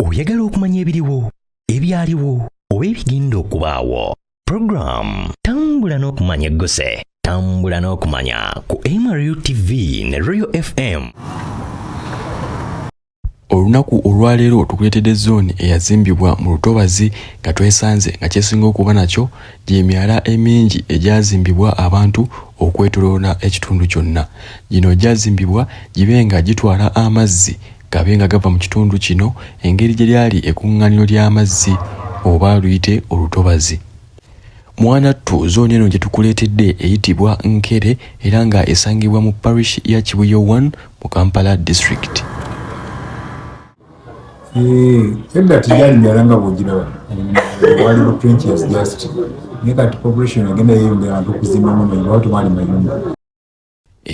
oyagala okumanya ebiriwo ebyaliwo oba ebigenda okubaawo program tambula n'okumanya egguse tambula n'okumanya ku mru tv ne royal fm olunaku olwaleero tukuleetedde zooni eyazimbibwa mu lutobazi nga twesanze nga kyesinga okuba nakyo gyemyala emingi egyazimbibwa abantu okwetoloola ekitundu kyonna gino gyazimbibwa gibe nga gitwala amazzi gabe nga gava mu kitundu kino engeri gye lyali ekuŋŋaaniro ly'amazzi oba luyite olutobazi mwanattu zooni eno gye tukuleetedde eyitibwa nkere era nga esangibwa mu parish ya kibuyo 1 mu kampala district edda teyali myala nga bwogiraba wali pretentious just naye kati population agenda yeyongera abantu okuzimbamu naye lwatu mwali mayumba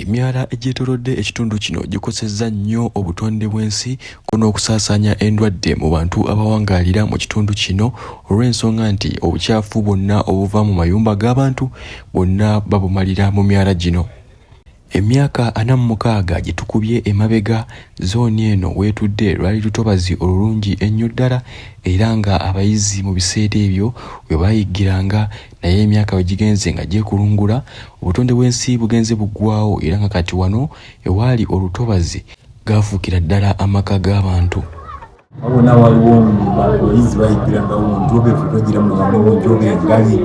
Emyala egyetoolodde ekitundu kino gikosezza nnyo obutonde bw'ensi ko n'okusaasaanya endwadde mu bantu abawangaalira mu kitundu kino olw'ensonga nti obucaafu bwonna obuva mu mayumba g'abantu bwonna babumalira mu myala gino. Emyaka ana mu mukaaga gye tukubye emabega zooni eno w'etudde lwali lutobazi olulungi ennyo ddala era nga abayizi mu biseera ebyo we baayiggiranga naye emyaka bwe gigenze nga gyekulungula obutonde bw'ensi bugenze buggwawo era nga kati wano ewaali olutobazi gaafuukira ddala amaka g'abantu wabona waliwo abayizi bayigira nga omuntu obefutogira mubamungi oba engali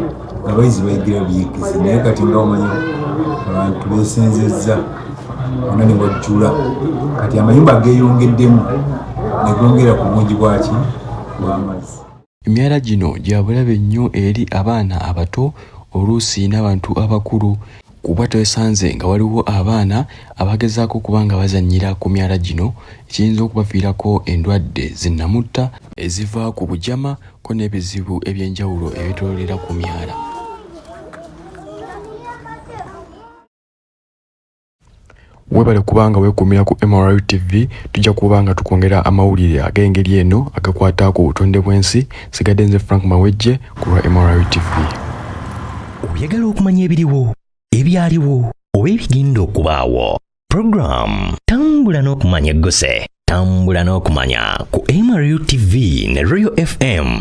abayizi bayigira biyigizi naye kati nga omanya abantu besenzezza ona ne wajjula kati amayumba geeyongeddemu negongera ku bungi bwaki bwamazzi Emyala gino gya bulabe nnyo eri abaana abato oluusi n'abantu abakulu kuba twesanze nga waliwo abaana abagezaako okuba nga bazannyira ku myala gino ekiyinza okubaviirako endwadde zinnamutta eziva ku bujama ko n'ebizibu eby'enjawulo ebitololera ku myala. webale kubanga wekumira ku MRU TV tujja kuba nga tukwongera amawulire ag'engeri eno agakwata ku butonde bw'ensi sigadde nze Frank Mawejje ku lwa MRU TV oyagala okumanya ebiriwo ebyaliwo oba ebigenda okubaawo program tambula n'okumanya egguse tambula n'okumanya ku MRU TV ne Royal FM